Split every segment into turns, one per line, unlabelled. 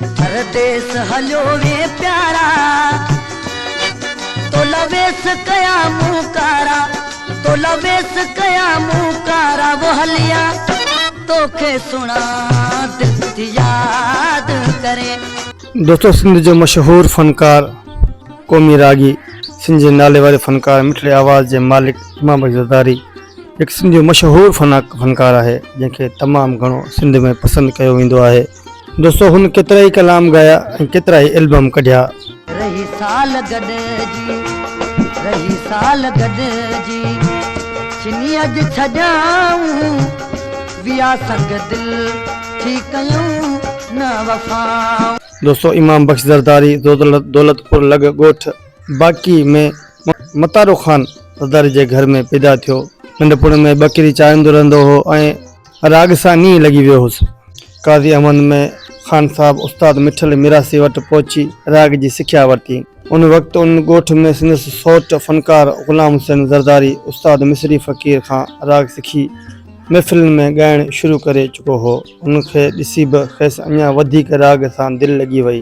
پرديس هليو وي پيارا، تو لا ويس ڪيا مون ڪارا، تو لا ويس ڪيا مون ڪارا، و هليا توکي سهڻا دل ٿي ياد ڪرين. دوستو
سنڌ جو مشهور فنڪار قومي راڳي سنڌ جي ناليواري فنڪار مٺڙي آواز جي مالڪ امام بخش زرداري هڪ سنڌ جو مشهور فنڪار آهي جنهن کي تمام گهڻو سنڌ ۾ پسند ڪيو ويندو آهي. دوستو هن ڪيترائي ڪلام ڳايا ۽ ڪيترائي البم ڪڍيا. رهي سال
گڏجي رهي سال گڏجي ڇني اڄ ڇڄائون ويا سنگ دل ٿي ڪيون نه وفائون. دوستو امام
بخش زرداري دولت پور لڳ ڳوٺ باقي ۾ متارو خان زرداري جي گهر ۾ پيدا ٿيو ننڍپڻ ۾ ٻڪري چاريندو رهندو هو ۽. راڳ سان نينهن لڳي ويو هوس. قاضي احمد ۾ خان صاحب استاد مٺل ميراسي وٽ پهچي راڳ جي سکيا ورتي. ان وقت ان ڳوٺ ۾ سندس سوٽ فنڪار غلام حسين زرداري استاد مصري فقير کان راڳ سکي محفلن ۾ ڳائڻ شروع ڪري چڪو هو. ان کي ڏسي به کيس اڃا وڌيڪ راڳ سان دل لڳي وئي.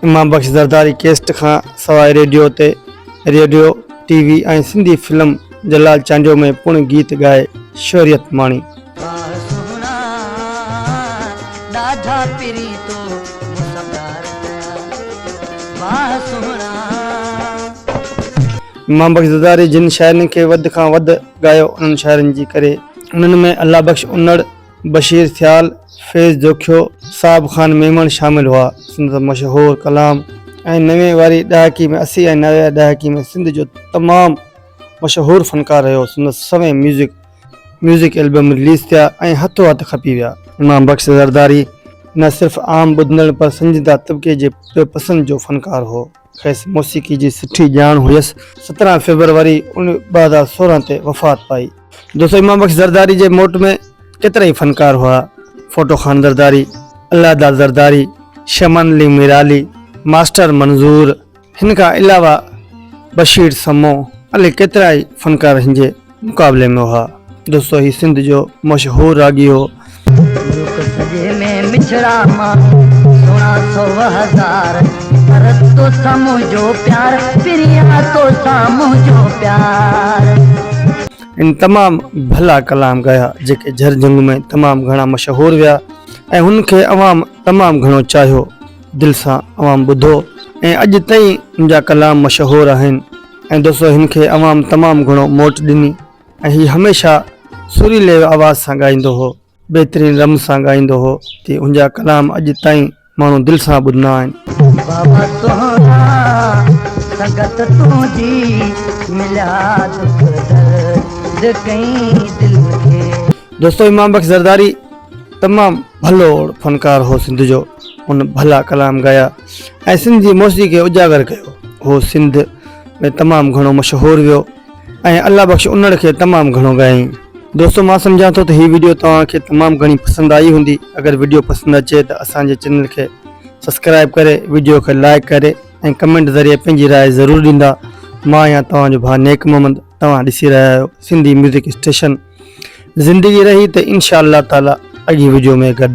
امام بخش زرداري ڪيسٽ کان سواء ريڊيو تي radio, T V ۽ Sindhi film Jalal Chandio ۾ پڻ گيت ڳائي شهريت ماڻي. واهه سهڻا ڏاڍا پرين تو مون سان پيار ڪيا واهه سهڻا. امام بخش زرداري جن شاعرن کي وڌ کان وڌ ڳايو انهن شاعرن جي ڪري. انهن ۾ الله بخش انڙ، بشير ٿيال، فيض جوکيو، صاحب خان ميمڻ شامل هئا. سندس مشهور ڪلام ۽ نوي واري ڏهاڪي ۾ اسي ۽ نوي ڏهاڪي ۾ سنڌ جو تمام مشهور فنڪار رهيو. سندس سوين ميوزڪ ميوزڪ البم رليز ٿيا ۽ هٿو هٿ کپي ويا. امام بخش زرداري نه صرف عام ٻڌندڙن پر سنجيده طبقي جي به پسند جو فنڪار هو. کيس موسيقي جي سٺي ڄاڻ هيس. سترهن فيبروري ان ٻه هزار سورهن تي وفات پائي. دوستو امام بخش زرداري جي موٽ ۾ ڪيترائي فنڪار هئا. ڦوٽو خان زرداري، الله داد زرداري، شمن علي ميرالي، ماسٽر منظور، هن کان علاوه بشير سمون، علي ڪيترائي فنڪار هنجي. مقابلي ۾ هئا. دوستو هي سنڌ جو مشهور راڳي هو. ملڪ سڄي ۾ مڇڙا ماڻهو سهڻا سو هزار پر توسان منهنجو پيار پريان توسان منهنجو پيار. هن تمام ڀلا ڪلام ڳايا جيڪي جر جنگ ۾ تمام گهڻا مشهور ويا ۽ هن کي عوام تمام گهڻو چاهيو دل سان عوام ٻڌو ۽ اڄ تائين هن جا ڪلام مشهور آهن. ۽ دوستو هن کي عوام تمام گهڻو موٽ ڏني ۽ هي هميشه سريلي آواز سان ڳائيندو هو بهترين رم سان ڳائيندو هو تي هنجا ڪلام اڄ تائين ماڻهو دل سان ٻڌندا آهن. بابا سهڻا سنگت تنهنجي مليا دک درد ڪئين دل کي. دوستو امام بخش زرداري تمام ڀلو فنڪار هو سنڌ جو ان ڀلا ڪلام ڳايا. ۽ سنڌ جي موسيقي کي اجاگر ڪيو. هو سنڌ ۾ تمام گهڻو مشهور ويو ۽ الله بخش انڙ کي تمام گهڻو ڳايائين. دوستو مان سمجهان ٿو ته هي وڊيو توهان کي تمام گهڻي پسند آئي هوندي اگر وڊيو پسند اچي ته اسان جي چينل کي سبسڪرائب ڪري وڊيو کي لائيڪ ڪري ۽ ڪمينٽ ذريعي پنهنجي راء ضرور ڏيندا مان آهيان توهان جو ڀاء نيڪ محمد توهان ڏسي رهيا آهيو سنڌي ميوزڪ اسٽيشن زندگي رهي ته انشاء الله تعالي اڳي وڊيو ۾ گڏ